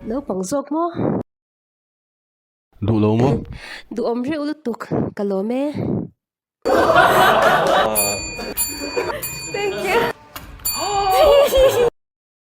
Naupang zawk maw? Duh lo maw? Duhawm reuh lutuk ka lawm e. Thank you.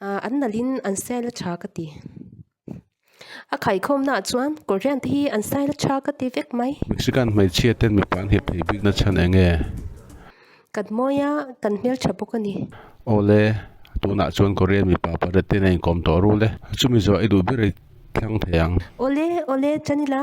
An nalhin an sial a tha ka ti. A khaikhawmnaah chuan Korean-te hi an sial a tha ka ti vek mai. Mexican hmeichhia ten mipa an hep thei bikna chhan eng e? Kan hmawi a, kan hmeltha bawk a ni. Awle, tunah chuan Korean mipa pariat ten a inkawm tawh rul e. Chumi zawh i duh ber i thlang thei ang. Awle, awle, Janila.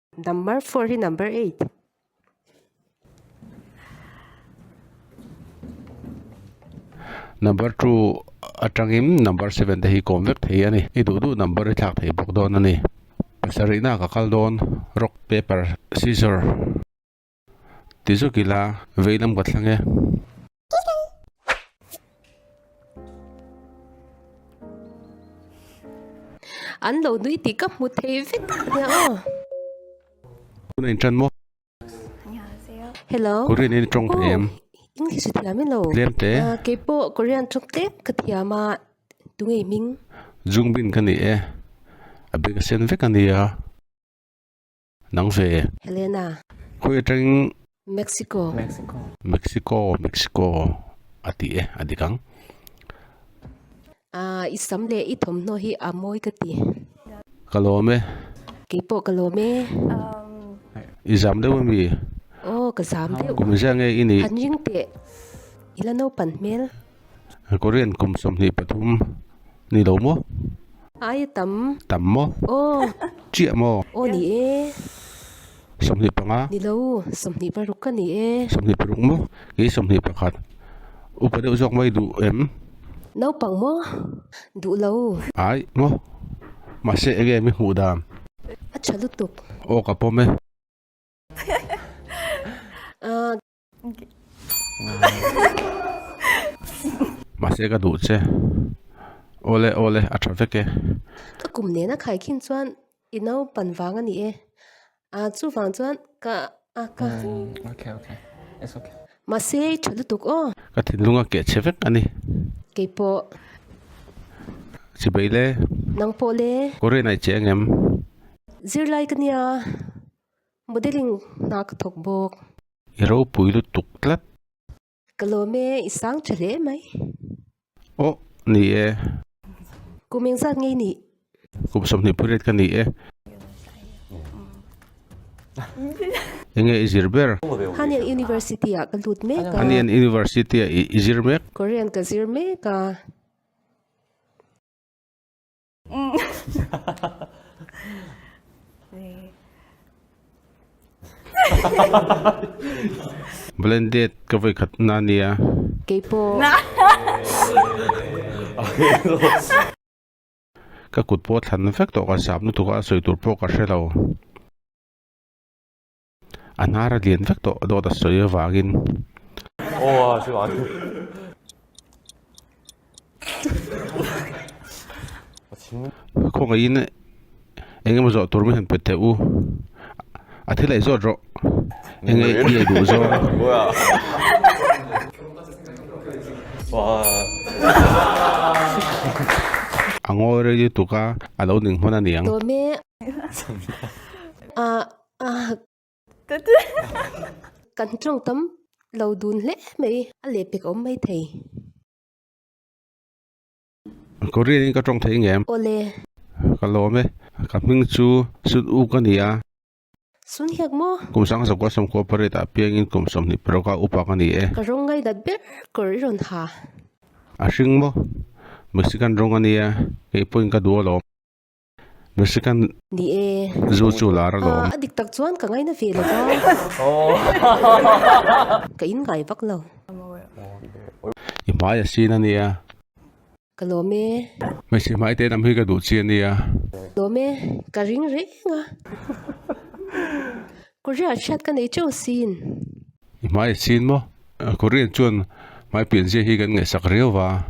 Number four hi number eight. Number two atangim number seven te hi kom vek thei ani. I duh duh number i thlak thei bawk dawn ani. Pasarihna ka kal dawn. Rock, paper, scissor. ti zawk ila vei lam ka thlang e. An lo nui tih ka hmu thei vek nia aw. Tuna in tan maw? Hello. Korean in tawng thei em? English thiam ilo. Tlem te. Kei pawh Korean tawng tlem ka thiam a. Tu ngei hming? Jungbin ka ni e. A bag a sen vek a nia. Nang ve. Helena. Khawi atangin. Mexico. Mexico, Mexico a ti e, a dik ang. Ahh, i sam leh i thawmhnaw hi a mawi ka ti. Ka lawm e. Kei pawh ka lawm e. I zam deuh a mi? Aw, ka zam deuh. Kum ziah nge i nih? Han ring teh. I la naupan hmel. Korean kum sawmhnih pathum ni lo maw? Ai a tam. Tam maw? Aw. Chiah maw? Aw ni e. Sawmhnih panga. Ni lo. Sawmhnih paruk ka ni e. Sawmhnih paruk maw? Kei sawmhnih pakhat. Upa deuh zawk mai duh em? Naupang maw? Duh lo. Ai maw? Mahse enge mi hmuh dan? A tha lutuk. Aw ka pawm e. Ahh. Mahse ka duh che. Awle awle a tha vek e. Ka kum nena khai khin chuan i naupan vang a ni e. A chuvang chuan ka a ka. Ok ok it's ok. Mahse i tha lutuk aw. Ka thinlung a keh che vek a ni. Kei pawh. Chibei le. Nang pawh le. Korean a i che angem? Zirlai ka nia. Modeling hna ka thawk bawk. I ropui lutuk tlat. Ka lawm e, i sang tha hle mai. Awh ni e. Kum eng zat ngei nih? Kum sawmhnih pariat ka ni e. Enge i zir ber? Hanian University ah ka lut mek a. Hanian University ah i zir mek. Korean ka zir mek a. Blended ka vawi khat na nia. Keipawh. Ka kut pawh thlan vek tawh ka sap lutuk a sawi tur pawh ka hre lo. a hnar a lian vek tawh dawt a sawi avangin khawngaihin engemaw zawh tur min han pe teh u a thil aih zawt rawh enge i aih duh zawng. Kan tawng tam lo dun hle mai a leh pek awm mai thei. Korean in ka tawng thei nge. Aw le. Ka lawm e. Ka hming chu Sun Uk a ni a. Sun Hyek maw? Kum Sangha Sawmkua Sawm Cooperate ah piang in kum sawmhnih peroka upak a ni e. Ka rawng ngainat ber kawr i rawn ha. A hring maw? Mexican rawng a nia, kei pawhin ka duh alawm. Na second Ni e. Zu chu lar a lawm. A dik tak chuan ka ngaina ve lova. Ka in ngai vak lo. I hmai a sin a nia. Ka lawm e. Hmeichhe hmai te lam hi ka duh chi a nia. Lawm e. Ka ring reng a. Korea hriat ka nei teuh sin. I hmai a sin maw. Korean chuan hmai pianzia hi kan ngaihsak riau va.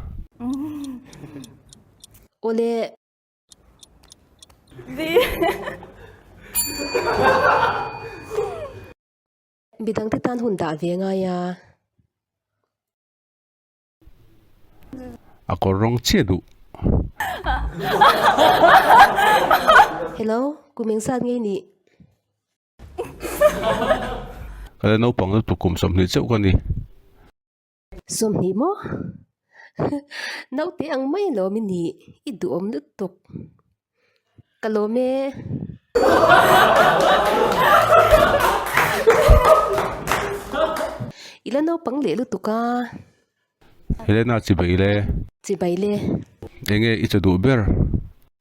Aw le. Midang te tan hun dah ve ngai a. A kawr rawng chiah duh. Hello, ku meng sat ngei nih. Ka le naupang lutuk kum sawmhnih cheuh ka ni. Sawmhnih maw? Naute ang mai lawm i ni, i duhawm lutuk. Ka lawm e. Ila naupang leh lutuk a. Helena, chibai le. Chibai le. Enge i chaduh ber?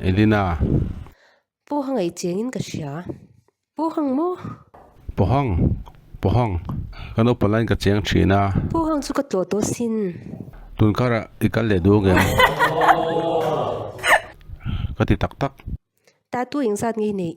Elina. Pu Hang ei chengin ka hria. Pu Hang maw? Pu Hang. Pu Hang. Ka naupang lain ka cheng thin a. Pu Hang chu ka tlawh tawh sin. Tun kharah i kal leh duh angem? Ka ti tak tak. Tatu engzat ngei neih?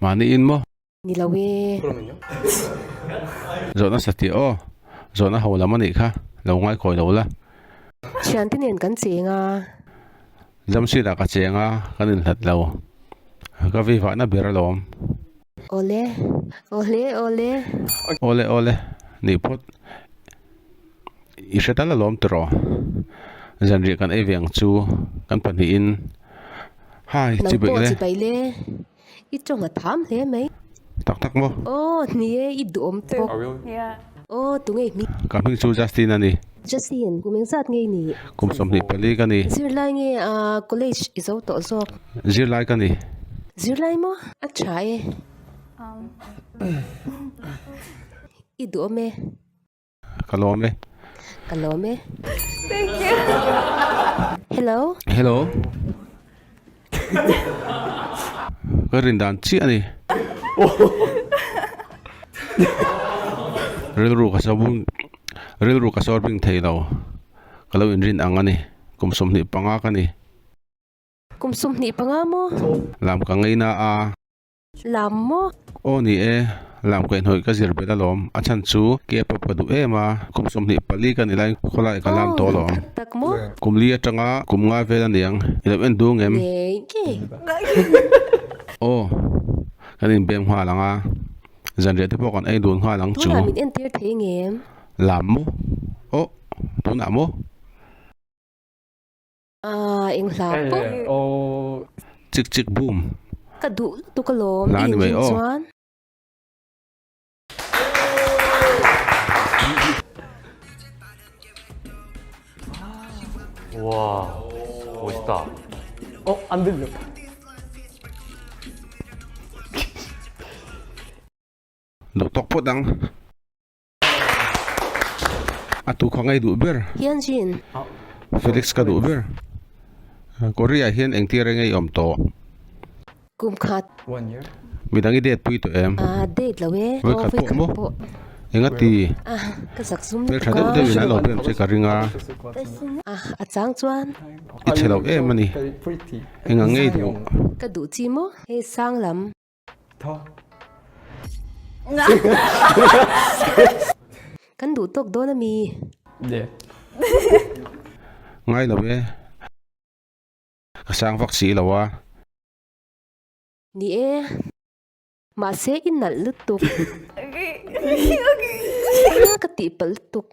mahni in maw ni lo e. Zawh nasa tih aw, zawh na ho lam anih kha, lo ngai kawi lo la. Thiante nen kan cheng a. Jamsheet ah ka cheng a, kan in hlat lo. Ka vi vah na ber alawm. Awle, awle, awle. Awle, awle, nih phawt. I hre dal alawm tawh rawh. Zanriah kan ei veng chu kan pahnihin Hi chi beih le. Nang pawh chi beih le. I tawng a tham hle mai. Tak tak maw? Aw ni e i duhawm bawk. Aw tu ngei hming. Ka hming chu Justin a ni. Justin, kum eng zat ngei nih? Kum sawmhnih pali ka ni. Zirlai nge a college i zo tawh zawk? Zirlai ka ni. Zirlai maw? A tha e. I duhawm e. Ka lawm e. Ka lawm e. Thank you. Hello. Hello. Ka rin dan chiah ni. Rilru ka sabun rilru ka sorbing thei lo. Ka lo in rin ang a ni. Kum sawmhnih panga ka ni. Kum sawmhnih panga maw? Lam ka ngei na a. lam maw? Aw ni e, lam kaih hnawih ka zir bet alawm, a chhan chu cap a pa duh em a, kum sawmhnih pali ka ni lai, khawlai ka lam tawh alawm. Aw, tak tak maw? Kum li atanga kum nga vel aniang, i lo en dung em? Nei ngei. Aw, kan inbem nghal ang a, zanriah te pawh kan ei dun nghal ang chu. Tunah min entir thei nge em? Lam maw? Aw, tunah maw? Aaa eng hla pawh hi. Hello chik chik boom. Ka duh lutuk alawm hla ani mai aw. Duh tawk phawt ang. a tu kha ngei duh ber Tianjin. Felix ka duh ber Korea hian engtir a ngei awm tawh. Kum khat. Midang i date pui tawh em? Aa date lo e. Voi khat pawh maw? Enga ti? Ah ka zak zum lutuk a. Hmeltha deuh deuhin an lo ber che ka ring a. Ah a chang chuan. I chhe lo em a ni. Enga ngei duh? Ka duh chi maw? Hei sang lam. Kan duh tawk dawn a mi. Ngai lo e, ka sang vak si lo a. Ni e, mahse i nalh lutuk. Ka tihpalh lutuk.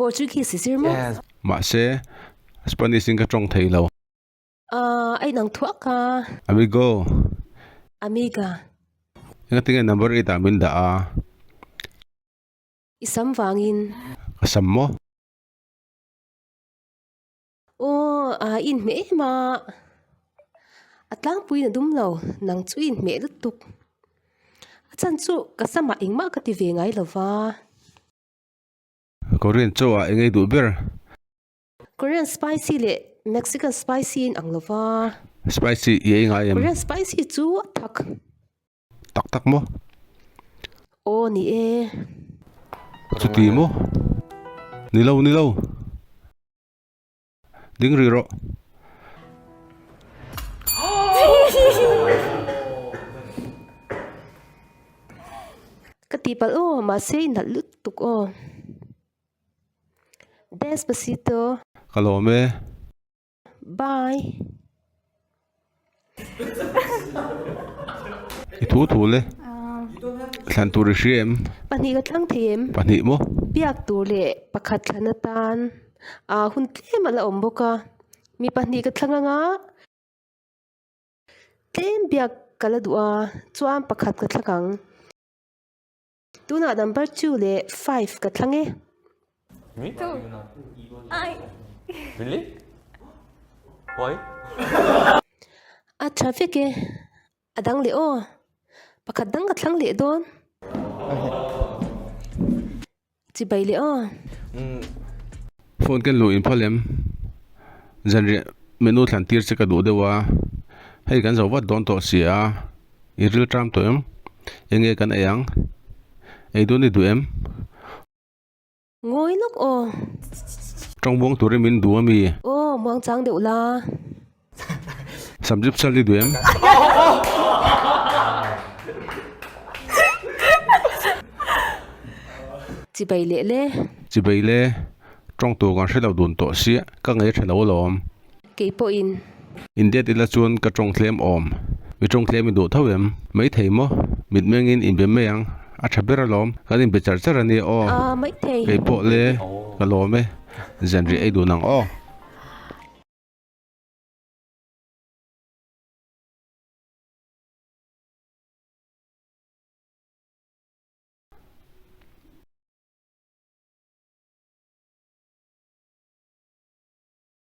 Portuguese zir maw? Mahse, Spanish in ka tawng thei lo. Aah, a inang thuak a. Amigo. Amiga. Engati nge number i tah min dah a? I sam vangin. Ka sam maw? Aw, a in hmeh em a. A tlangpuiin a dum lo, nang chu in hmeh lutuk. A chhan chu ka sam a engmah ka ti ve ngai lo va. Korean chaw ah engei duh ber. Korean spicy leh Mexican spicy in ang lova. Spicy i ei ngai em. Korean spicy chu a thak. Tak tak maw. Aw ni e. Chuti maw. Nilo nilo. Ding ri rawh. Ka ti pal o, mahse i nalh lut tuk aw. Despacito. Ka lawm e. Bye. I thu thu le thlan tur i hria em? Pahnih ka tlang thei em? Pahnih maw? Biak tur leh pakhat thlan atan ah hun tlem ala awm bawk a, mi pahnih ka thlang anga tlem biak ka la duh a, chuan pakhat ka thlak ang. Tunah number two leh five ka thlang e. Two. Ai. Really? Why? A tha vek e. A dang leh aw. Pakhat dang ka thlang leh dawn. Chibai leh aw. Umm. Phone ken luh in pha lem. Zanriah menu thlan tir che ka duh deuh a. Hei kan zo vat dawn tawh si a. I rilṭam tawh em? Eng nge kan ei ang? Ei dawn i duh em? Ngawi lawk aw. Ṭawng buang tur em in duh a mi? Aw, muang chang deuh la. Sam zip chal i duh em? Chi bai leh le. Chi bai le. Ṭawng tur kan hre lo dun tawh si. Ka ngei ṭha lo alawm. kei pawh in. Indeed ila chuan ka tawng tlem awm. Mi tawng tlem i duh tho em? Maithei maw? Mitmeng in inbe mai ang. A tha ber alawm. Kan inbe char char ania aw. Aa Maithei. Kei pawh le ka lawm e. Zian rih ei dun ang aw.